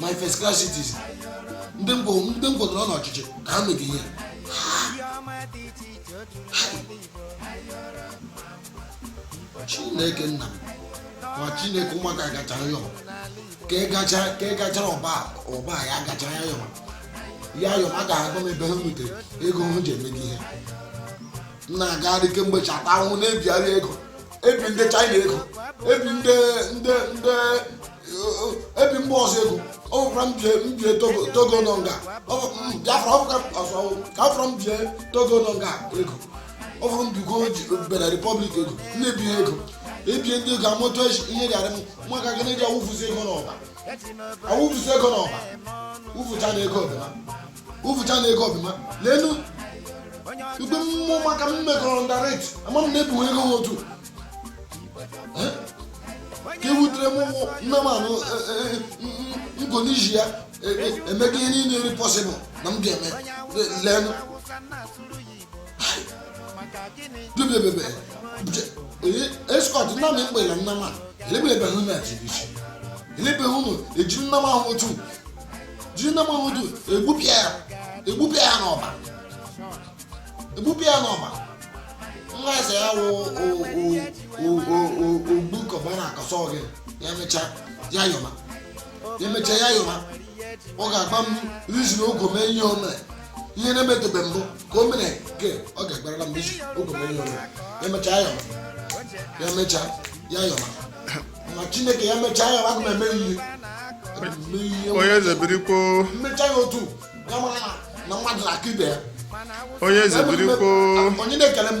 my first class citizen ndị ngwọdọrọ n'ọchịchị ka ha mega ihe chineke nna ma chineke ụmụaka gacha ya ka ị gacha ka ị gachara ọba ọba a, ya gachara ya yọma ya yọma a ga-agwa m ebe ha nwetara ego hụ ji emega ihe m na-agagharị kemgbe chata ahụhụ na-ebigharị ego ebi ndị china ego ebi ndị ndị ndị ebi mba ọzọ ego ọ bụkwara m bie m bie togo togo nọ nga ọ bụ m biafra ọ bụka ọzọ ka ọ fọrọ m bie togo nọ nga ego ọ fọrọ m bigo ji benin republic ego na-ebi ha ego ebie ndị ego amụtụ ihe gara m maka gịnị ji awụfuzi ego n'ọba awụfuzi ego n'ọba wụfucha na ego ọbịma wụfucha na ego ọbịma lenu igwe mmụọ maka m mekọrọ ndaret ama m na-ebu ego ha otu Eh? ka ewutere m ụmụ nne m anụ ngo n'iji ya e- e- emega ihe niile rị possible na m ga-eme lenu bebebebe escort nna m ekpela nna m a elebelebe hụ na jiri isi elebe hụ na eji nna m ahụ otu jiri nna m ahụ otu egbupịa ya egbupịa ya n'ọba egbupịa ya n'ọba nwa eze ya wụ obi cubana akọsọ gị ya mechaa ya yọma ya mechaa ya yọma ọ ga-agwa m reason o ji mee ihe o mere ihe na-emetube mbụ ka o mere nke ọ ga-agwarala m reason o ji mee ihe o mere emechaa ya ya mechaa ya yọma na chineke ya mechaa ya aga m eme ihe onye eze birikwo m mechaa ya otu ya mara na mmadụ na-aka ibe ya onye eze birikwo onye na-ekele m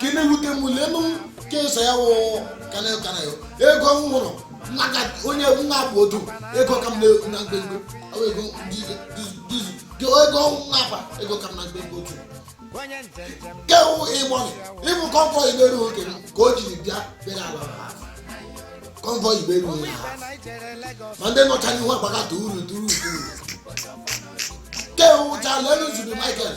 ka na-ewute m lenu ka eso ya wụ kanayo kanayo ego m hụrụ onye nwa bụ odu ego ka m na mgbemgbe ego dizu gị ego nwa akpa ego ka m na mgbemgbe otu ke wụ e-money ibu convoy iberu oke m ka o jiri bịa bere ala ha convoy iberu onye ha ma ndị nọcha n'ihu agbagata uru duru uru ke wụcha lenu zubby michael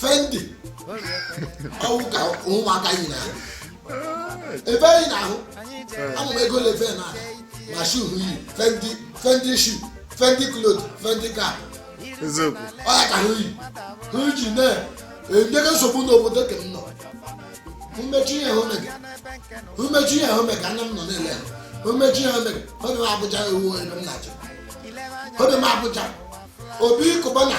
fendi ọwụ ka ụmụaka yi na ebe anyị na-ahụ ama m ego lefe na ma shoe yi fendi fendi shoe fendi cloth fendi cap eziokwu ọ ya ka ha yi ha ji na-enye nsogbu n'obodo ka m nọ mmechi ihe hụ mega mmechi ihe hụ mega nna m nọ na-ele ha mmechi ihe hụ mega obi m abuja ewu ebe m na-achọ obi m abuja obi cubana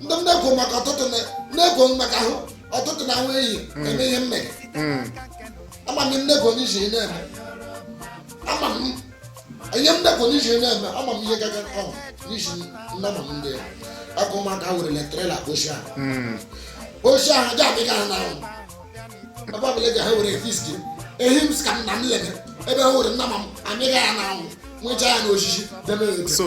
ndị m na-ekwu maka ọtụtụ na- na-ekwu m maka ahụ ọtụtụ na ahụ ehi eme ihe mmega ama m nnekwo n'iji ị na-eme ama m ihe nnekwo n'iji ị na-eme ama m ihe gaga ọ n'iji nnama m ndị ya ọkụ ụmụaka werele trela oshi ahụ oshi ahụ aja adịghị ha n'ahụ ebe ọbụla eji ha were fiski ehi m si ka nna m lere ebe ha were nnama m amịghị ya n'ahụ nwechaa ya n'osisi debe ya oke so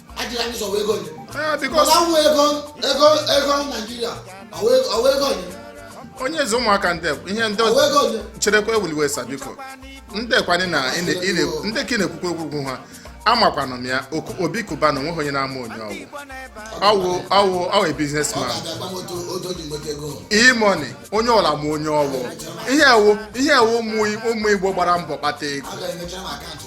ajịla ndị sị ọwụ ego gị Eh, because mana nwa ego ego ego naijiria ọwụ ego gị onye eze ụmụaka ndị ihe ndị ọwụ ego gị cherekwa ewele iwe sa biko ndị kwanye na ị na- ị na- ndị ka ị na-ekwukwa okwu ha amakwanụ m ya Oku- Obi Cubana onweghị onye na-ama onye ọwụ ọwụ ọwụ ọwụ ọ businessman ga-abịa gwa m otu otu o ji nweta ego E-Money onye ọla ma onye ọwụ ihe a wụ ihe a wụ ụmụ ụmụ igbo gbara mbọ kpata ego ọ ga-emechara m akaụntụ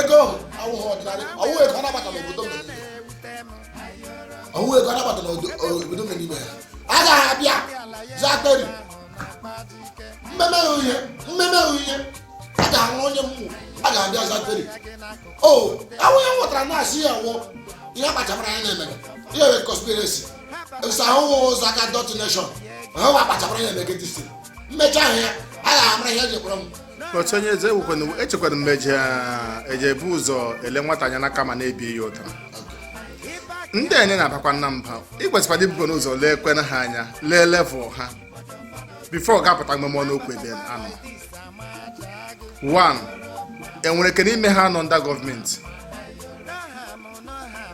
ego awụghị ọdịnala ọwụ ego anabata n'obodo m nọ n'ime. ọwụ ego anabata n'obodo obodo m nọ n'ime ya a ga-abịa zakari mmemme uhie mmemme uhie a ga-ahụ onye mmụ a ga-abịa zakari o awụ ya nwetara na-asị ọ wụ ihe akpachamara anya na-emega ihe wụ conspiracy esa ahụhụ ụzọ aka dot nation ahụhụ akpachamara anya na-emegide isi mmecha ahụ ya a ga-amara ihe e jekwara m otu onye eze ewukwana echekwara m e ji e ji ebu ụzọ ele nwata anya n'aka ma na-ebi ya ụta ndị a ị na-abakwanụ mba ị kwesịkwara ibukwanụ ụzọ leekwanụ ha anya lee level ha before ị ga-apụta mepe ọnụ okwu ebe a nọ one enwere ike n'ime ha nọ under gọọmenti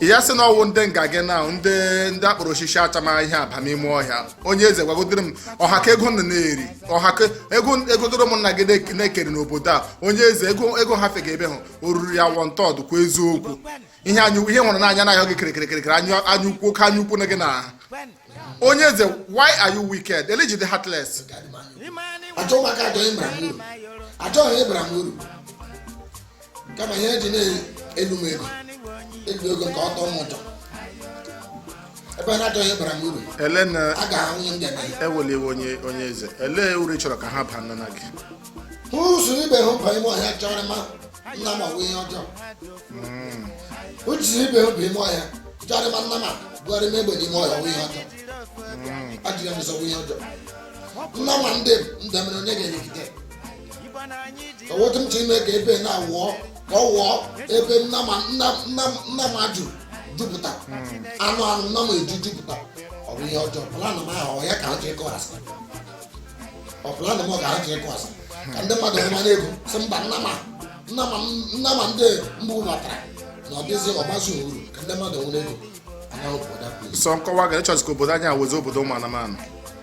ya sị na ọwụ ndị nga gị na ndị ndị akpọrọ osisi achama ihe aba n'ime ọhịa onye eze gwagodoro m ọha ka ego nọ na-eri ọha ka ego egodoro ụmụnna gị na-ekeri n'obodo a onye eze ego ego ha fega ebe ha o ruru ya one third kwa eziokwu ihe anyị ihe hụrụ n'anya anya na-ahịọ gị kirikirikirikiri anya ukwu oke anya ukwu na gị na ha onye eze why are you wicked elee ihe i ji dị heartless achọghị ịbara m uru kama ihe eji na-elu m ego elu ego nke ọtọ m ụtọ ebe a na-achọghị ịbara m uru ele na a ga-ahụ ihe m ga-eme ewele iwe onye onye eze elee uru ị chọrọ ka ha baara gị hụ i soro ibe hụ baa ime ọhịa chọrọ m nnama m ọwụ ihe ọjọọ i soro ibe hụ baa ime ọhịa chọrọ m nnama m bugharị m egbe n'ime ọhịa ọwụ ihe ọjọọ ajụ gị m sị ọwụ ihe ọjọọ nnama ndị m ndị mere onye ga-elegide otu m ji ime ka ebe na wụọ ka ọ wụọ ebe nnama nna nna nnama ju jupụta anụ anụ nnama eju jupụta ọ bụ ihe ọjọọ plan m ahụ ọ ya ka ha ji ịkọ asị ọ plan m ọ ka ha ji ịkọ asị ka ndị mmadụ hụ m anya ego sị mba nnama nnama nnama ndị mbụ batara na ọ dịzi ọgbazi uru ka ndị mmadụ nwere ego anaghị obodo a sọ nkọwa ga ịchọzi ka obodo anyị awụzi obodo ụmụ anụmanụ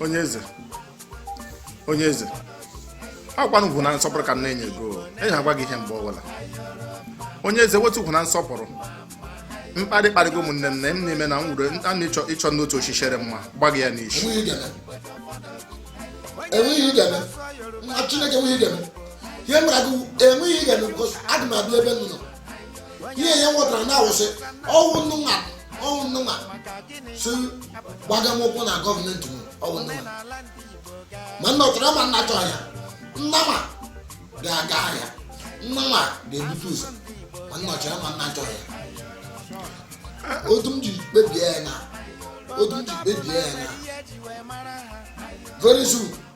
onye eze onye eze ọkwanụ ugwu na nsọpụrụ ka m na-enye gị o enyi agwa gị ihe mgbe ọbụla onye eze wetu ugwu na nsọpụrụ mkparị kparịgo ụmụnne nne m n'ime na m wuru a na ịchọ ịchọ n'otu o shi shere m agba gị ya n'isi enweghị ihe ị ga-eme nwa chineke enweghị ihe ị ga-eme ihe mara gị enweghị ihe ị ga-eme because adị m abịa ebe ị nọ ihe ya nwetara na awụsị ọ wụ unu nwa ọ wụ unu nwa si gbagha m okwu na gọọmenti m ọ wụ unu nwa ma unu chọrọ ya ma unu achọghị ya nnama ga-aga ahịa nnama ga-ebute ụzọ ma unu chọrọ ya ma unu achọghị ya otu m ji kpebie ya na otu m ji kpebie ya na very soon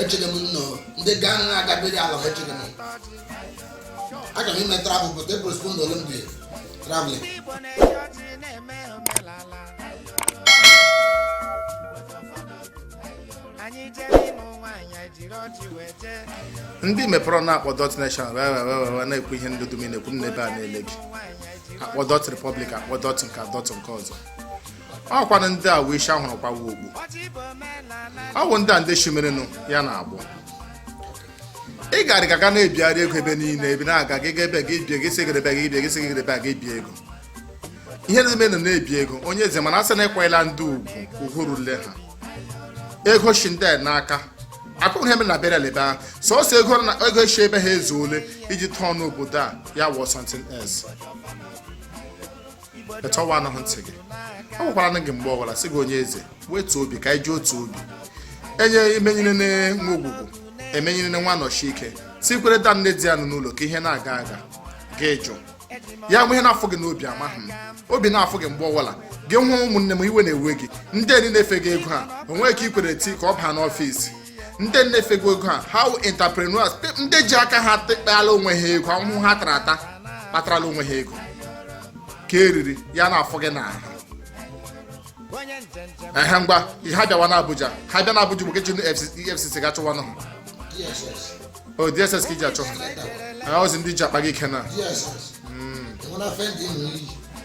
echere m nnọọ ndị gaa nwa agabere ala ha echere m aga m ime travel but e postpone ọla m the traveling ndị ị mepere ọnụ akpọ dot nation wee wee wee wee wee na-ekwu ihe ndị dum ị na-ekwu m nọ ebe a na-ele gị akpọ dot republic akpọ dot nke a, dot nke ọzọ ọkwanụ ndị a wee ishi ha hụrụ kwawa okpu ọ bụ ndị a ndị shimerenụ ya na-agbụ ị gara gaga na-ebigharị ego ebe niile ebe na-aga gị ga ebe gị bie gị sị gị ebe gị bie gị sị gị ebe gị bie ego ihe na-eme na na-ebi ego onye eze mana asị na ị kwanyela ndị ugwu ugwu rule ha ego shi ndị a n'aka akụkọ ihe mere na bịara n'ebe ahụ sọsọ ego na ego shi ebe ha ezuole iji tọọ n'obodo a ya wụọ something else echọwa anụghị ntị gị agwakwara m gị mgbe ọbụla sị gị onye eze wetuo obi ka anyị ji otu obi enye emenyere nwa ogwugwu emenyere nwa anọshike tikwere da nne di ya nọ n'ụlọ ka ihe na-aga aga gị jụ ya nwe ihe na-afụ gị n'obi amaghị m obi na-afụ gị mgbe ọbụla gị hụ ụmụnne m iwe na-ewe gị ndị enyi na-efega ego ha onweghị nke i kwere ti ka ọ baa n'ọfịs ndị na-efega ego ha ha wụ entrepreneurs pe- ndị ji aka ha tekpeala onwe ha ego ahụhụ ha tara ata kpatarala onwe ha ego ka eriri ya na-afụ gị n'ahụ ehe ngwa ha bịawa n'abuja ha bịa n'abuja bụ ka iji efcc ga chụwa nụ ha DSS. o dss ka iji achụ ha That one. ha ozi ndị ji akpa gị ike na DSS. Enwere afọ ndị ị nwere iyi.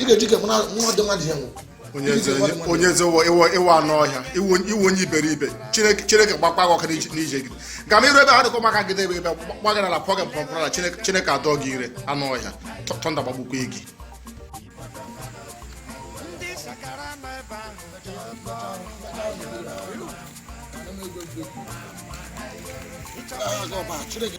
ị ga-eji ka nwa dị nwa dị ya nwụ onye eze ị wụ anụ ọhịa ị wụ onye iberibe chineke chineke gbakwa gị ọkụ n'ije gị ga m iru ebe ha dịkọ maka gị debe ebe gbagara na pọgị mpọmpụrụ na chineke adọ gị ire anụ ọhịa thunder gbagbukwa gị Chineke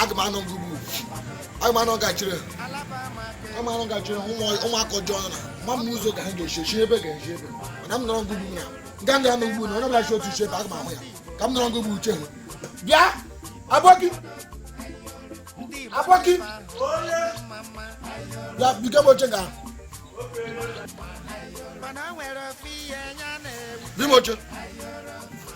aga m anọ ngugbu aga m anọ gachiri aga m anọ gachiri ụmụaka ọjọọ na ma m ụzọ ka ha ga-eshi eshi ebe ga-eshi ebe mana m nọrọ ngugbu na nga ndị anọ ngugbu na onye ọbụla shi otu iche ebe aga m ahụ ya ka m nọrọ ngugbu uche ha bịa abọki abọki bịa biga m oche ga Bimoche.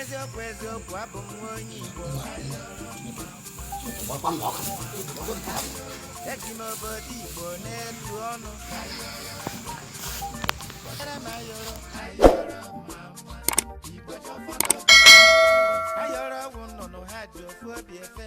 eziokwu eziokwu abụ m nwa onye igbo eji m obodo igbo na-etu ọnụ Ayọrọ m ayọrọ. ayọrọ ọgwụ nnụnụ ha ji ofu obi efe